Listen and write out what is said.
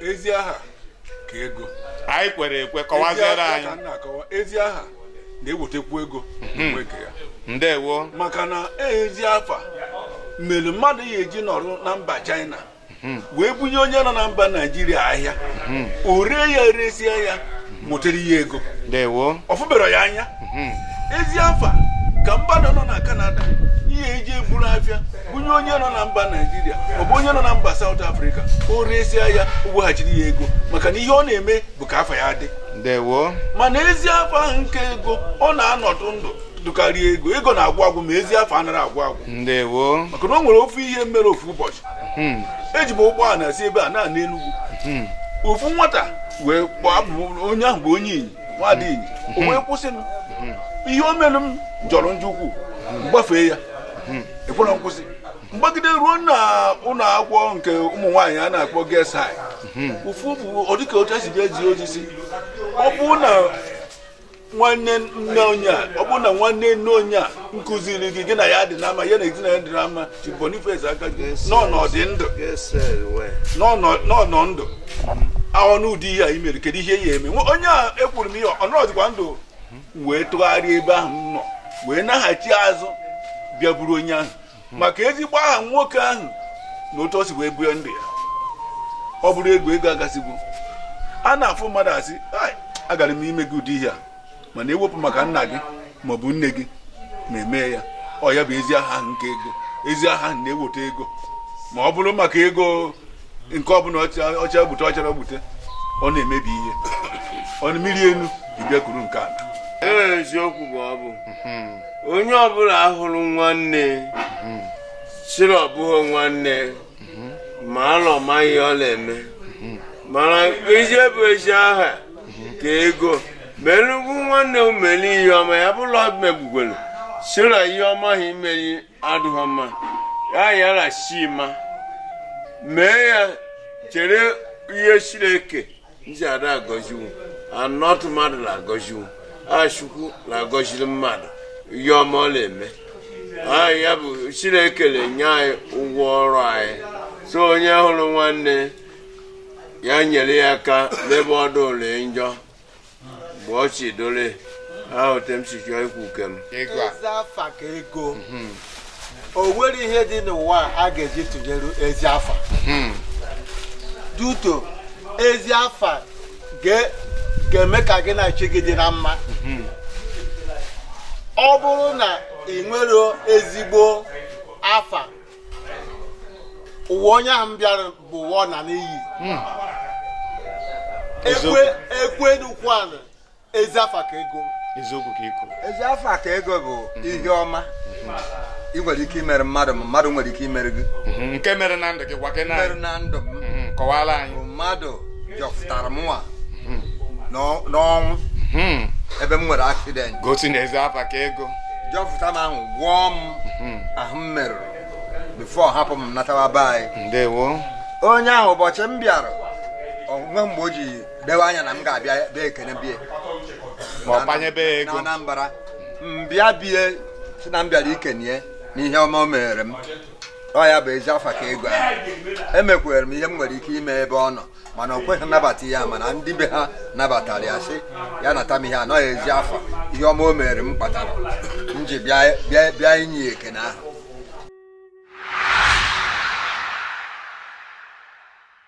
ezi aha ka ego anyị kwere ekwe kọwaziere anyị ezi aha na-ewetekwu ego mhm. mgbe nke ya ndewo maka na ezi afa mere mmadụ ya eji nọrụ na mba China wee bunye onye nọ na mba naijiria ahịa o ree ya eresie ya nwetara ya ego ọ fụberọ ya anya ezi afa ka mmadụ nọ na kanada ya eji eburu afịa bunye onye nọ na mba naijiria maọbụ onye nọ na mba saụt afrịka o resia ya weghachiri ya ego maka na ihe ọ na-eme bụ ka afa ya dị mana ezi afa ahụ nka ego ọ na-anọdụ ndụ dụkarịa ego ego na-agwụ agwụ ma ezi afa anaghị agwụ agwụ maka na o nwere ofu ihe mere ofu ụbọchị hmm. eji m ụgbọala si ebe a na-ana Enugu hmm. ofu nwata wee gbaa onye ahụ bụ onye Inyi nwada Inyi o wee kwụsị m ihe o mere m jọrọ njọ ukwuu m gbafee ya ekwerọ m kwụsị m gbagide ruo na ụlọ akwụkwọ nke ụmụ nwaanyị a na-akpọ Girls ofu bụ ọ dịka otu esi bịa zi ozi sị ọ bụ na nwanne nne onye a ọ bụ na nwanne nne onye a nkụziri gị gị na ya dị na mma ya na ezinụlọ dị na mma Chief Boniface aka gị na ọ nọdụ ndụ na ọ nọ ndụ ọ nụ ụdị ihe a i mere kedu ihe ya eme onye a ekwuru m ihe ọ nọdụkwa ndụ wee tụgharịa ebe ahụ m nọ wee naghachi azụ bịa buru onye ahụ maka ezigbo aha nwoke ahụ na otu o si wee bie ndụ ya ọ bụrụ ego ego agasịgo a na-afụ mmadụ a sị agara m ime gị ụdị ihe a mana e wepụ maka nna gị ma ọ bụ nne gị ma emee ya ọ ya bụ ezi aha nka ego ezi aha na-eweta ego ma ọ bụrụ maka ego nke ọbụla ọ chaa gbute ọ charọ gbute ọ na-emebi ihe ọ mmiri enu bịa kuru nke a eziokwu bụ ọ bụ onye ọbụla hụrụ nwanne sị la ọ bụghị nwanne ma alọ ma ihe ọ na-eme mana ezie bụ ezi aha ka ego melugwu nwanne umeli ihe ọma ya bụ la megbugwelu sị la ihe ọma ahụ i meli adịghị mma ya yara si ma mee ya chere ihe Chineke ndị ada agọziwu anọtụ mmadụ na-agọziwu ọ Chukwu na-agọziri mmadụ ihe ọma ọ na-eme anyị ya bụ Chineke na-enye anyị ụgwọ ọrụ anyị so onye hụrụ nwanne ya nyere ya aka n'ebe ọ dụrụ njọ mgbe ọ chidole ahụ tem sikwa ikwu kem Ego a. Ezi afa ka ego o nwere ihe dị n'ụwa a ga-eji tụnyere ezi afa hmm. duto ezi afa ga-eme ka gị na chi gị dị na mma hmm. ọ bụrụ na i nwerọ ezigbo afa ụwa onye ahụ bịara bụ ụwa ọna n'iyi hmm. ekwe n'ukwu ala ezi afa ka ego eziokwu ka i kwu ezi afa ka ego bụ mhm. ihe ọma ị nwere ike imere mmadụ ma mmadụ nwere ike imere gị mhm. nke mere na ndụ gị gwa gị nke mere na ndụ m mhm. kọwaara anyị mmadụ jọpụtara m nwa n'ọnwụ ebe m nwere aksident gosi na ezi afa ka ego jọpụta m ahụ gwọọ m ahụ m merụrụ bifo hapụ m natawa be anyị ndewo onye ahụ ụbọchị m bịara o nwe mgbe o ji dewe anya na m ga-abịa bịa ekene be ye ma ọ kpanyebe ya ego na Anambra m bịa be ye sị na m bịara ikene ye n'ihe ọma o mere m ọ ya bụ ezi afa ka ego ahụ emekwere m ihe m nwere ike ime ebe ọ nọ mana o kweghị anabata ya mana ndị be ha nabatara ya sị ya nata m ihe a n'ihi ezi afa ihe ọma o mere m kpatara m ji bịa inye ya ekene ahụ